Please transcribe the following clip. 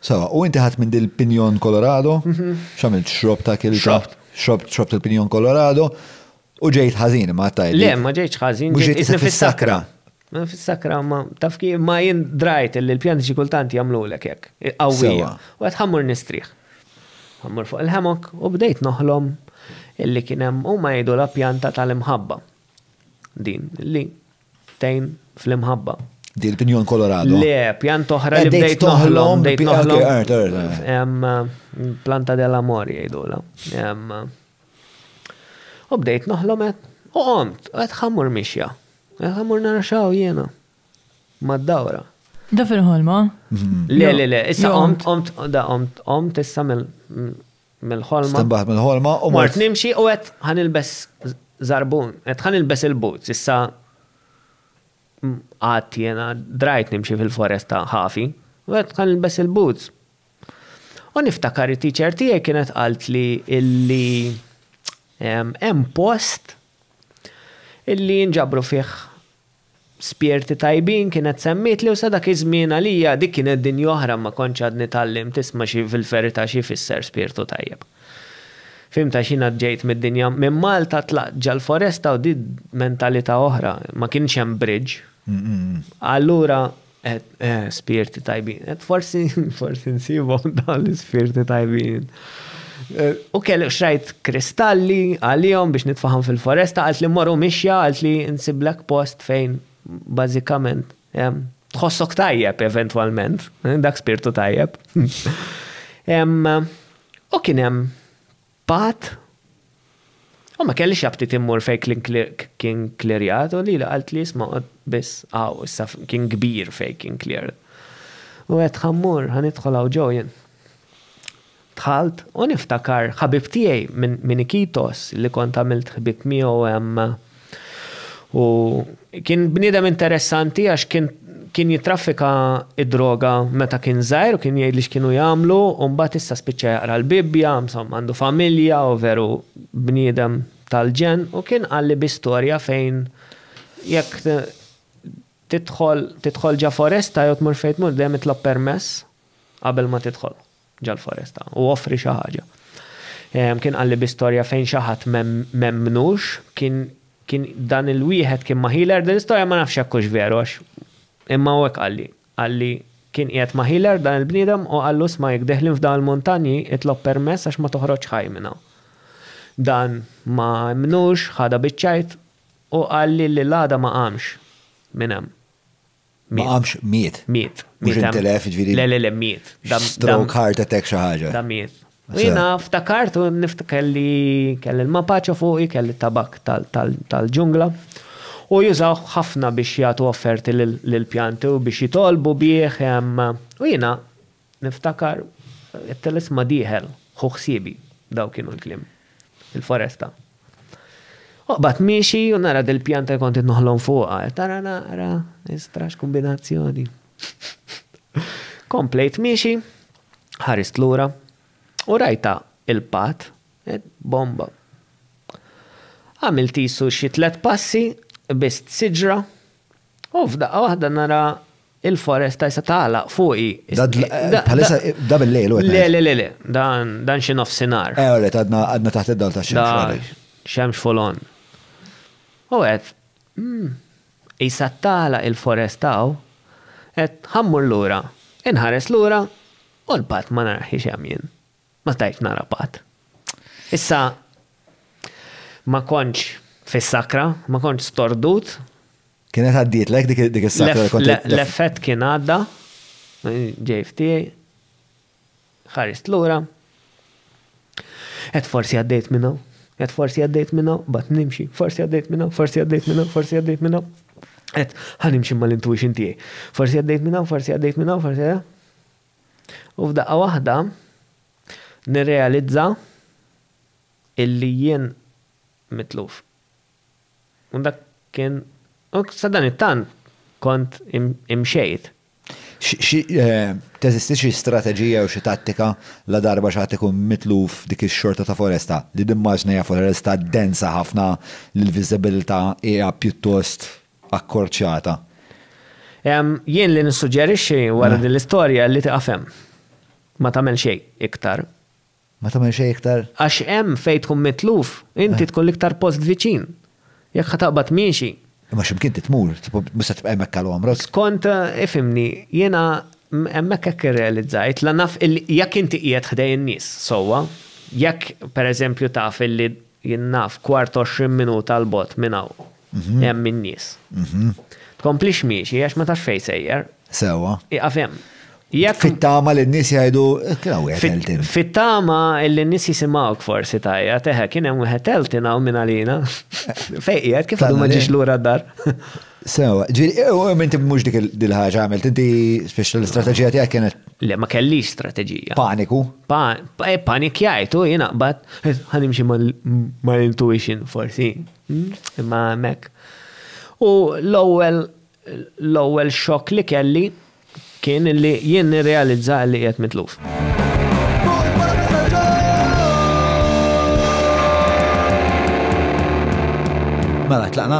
Sewa, u inti ħadt minn din il-pinjon Colorado? X'għamilt? Xrobt ta' kelita? Xrobt. Xrobt, xrobt il-pinjon Colorado u ġejt ħażin ma għattajt. Le, ma ġejtx ħażin. Mhux ġejt isni fis-sakra. Ma fis-sakra ma taf kif ma jien drajt li l-pjanti xi kultant jagħmlulek hekk. Qawwija. U qed ħammur nistrieħ. Ħammur fuq il-ħemok u bdejt noħlom illi kien hemm huma jgħidu la pjanta tal-imħabba. Din li Ftehim fl-imħabba. Dil pinjon Colorado. Le, pjant oħra li bdejt toħlom, bdejt toħlom. Planta del amor jgħidula. U bdejt noħlom qed u qomt, qed ħammur mixja. Qed ħammur nara xaw jiena. Mad-dawra. Da fil-ħolma? Le, le, le, issa qomt, qomt, da qomt, qomt issa mill mill-ħolma. Stinbaħt mill-ħolma u mort. Mort nimxi u qed ħanilbes żarbun, qed ħanilbes il-boots, issa għad jena drajt nimxi fil-foresta ħafi, u qed ħanilbes il-boots. U niftakar it-teacher tiegħi kienet qalt li illi hemm post illi jinġabru fih Spjerti tajbin kienet semmietli u sa dak iż-żmien għalija dik kienet dinja oħra ma kontx għadni tgħallimt isma' xi fil-verità xi jfisser spirtu tajjeb. Fhimt għax jiena ġejt mid-dinja minn Malta tlaqt ġall-foresta u di mentalità oħra, ma kienx hemm bridge. Allura Spirti tajbin. Forsi, forsi nsibhom dawn l-ispirti tajbin. U kelli xrajt kristalli għalihom biex nitfaħam fil-foresta, għalt li morru mixja, għalt li nsiblek post fejn bażikament tħossok tajjeb eventwalment, dak spirtu tajjeb. U kien hemm Pat? U ma kellix aptit immur fejn klin clerk kien clearjat u lili qaltli isma' qgħod biss hawn issa kien kbir fejn kien cleared. U għedt ħa mmur, ħa nidħol hawn ġo jien. Dħalt u niftakar ħabib tiegħi minn minn Iquitos li kont għamilt ħbieb miegħu hemm U kien bniedem interessanti għax kien kien jitraffika id-droga meta kien żgħir u kien jgħid li x'kienu jagħmlu u mbagħad issa spiċċa jaqra l-Bibbja, insomma għandu familja u veru bniedem tal-ġenn u kien qalli bi storja fejn jekk tidħol tidħol ġa foresta jew tmur fejn tmur dejjem itlob permess qabel ma tidħol. ġol-foresta, u offri xi ħaġa. Kien qalli bi storja fejn xi ħadd m'emmnux, kien kien dan il-wieħed kien ma' healer, din l-istorja ma nafx jekk hux veru għax imma hu hekk qalli. Qalli kien qiegħed ma' healer dan il-bniedem u qallu isma' jekk deħlin f'dawn il-muntanji itlob permess għax ma toħroġx ħaj minn hawn. Dan ma emmnux, ħadha biċ-ċajt u qalli li l-għada ma qamx minn hemm. Ma qamx, miet. Miet. Mhux intilef, jiġifieri. Le, le, le, miet. Stroke, heart attack, xi ħaġa. Da miet. Jiena ftakart u niftakar li kelli l-mapaċo fuqi, kelli t-tabakk tal-ġungla u jużawh ħafna biex jagħtu offerti lill-pjanti u biex jitolbu bih u jiena Niftakar, it-telesma dieħel, ħu ħsiebi, daw kienu l-kliem. Il-foresta. Oqbad miexi u nara dil-pjanta li kont qed noħlom fuqha, qed ara naqra, istra x'kumbinazzjoni. Komplejt miexi, ħarist lura u rajtha il-patt, qed bomba. Għamilt qisu xi tliet passi, qbiżt siġra u f'daqqa waħda nara Il-foresta jisa tagħlaq fuqi. Bħalissa da bil-lejl u Le, le, le, le, dan xi nofsinhar. Eh, oret, għadna taħt id-dal ta' xemx. Xemx folon. U għed, hmm, jisa tagħlaq il-foresta u għed ħammur lura, inħares lura u l-bat ma narħi xem jien. Ma stajtx nara patt. Issa ma kontx fis-sakra, ma kontx stordut. Kienet għaddietlek dik dik is-sakra li kont L- qed- L-effett kien għadda, ġej f'tiegħi, ħarist lura. Qed forsi għaddejt minn hawn, qed forsi għaddejt minn hawn, bad nimxi, forsi għaddejt minn hawn, forsi għaddejt minn hawn, forsi għaddejt minn hawn. Qed ħa nimxi mal-intuition tiegħi. Forsi għaddejt minn hawn, forsi għaddejt minn hawn, forsi għaddejt. U f'daqqa waħda nirrealizza illi jien mitluf. U dak kien, u sadanittant kont imxejt. Teżisti xi strateġija jew xi tattika ladarba xi ħadd ikun mitluf f'dik ix-xorta ta' foresta? Li nimmaġina hija foresta densa ħafna li l-viżibilità hija pjuttost. akkorċjata. Jien li nissuġġerixxi wara din l-istorja li tieqaf hemm. Ma tagħmel xejn iktar. Ma tagħmel xejn iktar? Għax hemm fejn tkun mitluf, inti tkun l-iktar post viċin. Jekk ħa taqbad miexi. Imma xi mkien trid tmur, mhux se tibqa' hemmhekk għal għomrok. Skont, ifhimni, jiena hemmhekk hekk irrealizzajt, la naf illi jekk inti qiegħed ħdejn nies sewwa, jekk pereżempju taf illi Jien naf kwart għoxrin minuta 'l bogħod minn hawn hemm in-nies. Tkomplix miexi għax ma tafx fejn sejjer. Sewwa. Ieqaf hemm. Jekk. Fit-tama li n-nies jgħidu, Kien hawn wieħed Elton. Fit-tama li n-nies jisimgħuk forsi tgħajjat, Eħe, kien hemm wieħed Elton hawn minn għalina. Fejn qiegħed? Kif għadu ma ġiex lura d-dar? Sewa, ġifieri, u inti mhux dik il-ħaġa għamilt, inti spiċċa l-istrateġija tiegħek kienet. Le ma kellix strateġija. Paniku. E, panikjajt u jiena qbad ħanimxi mal-intuition forsi. Hmm? Imma hemmhekk. U l-ewwel l-ewwel xokk li kelli kien li jien nirrealizza li qiegħed mitluf. Mela, tlaqna?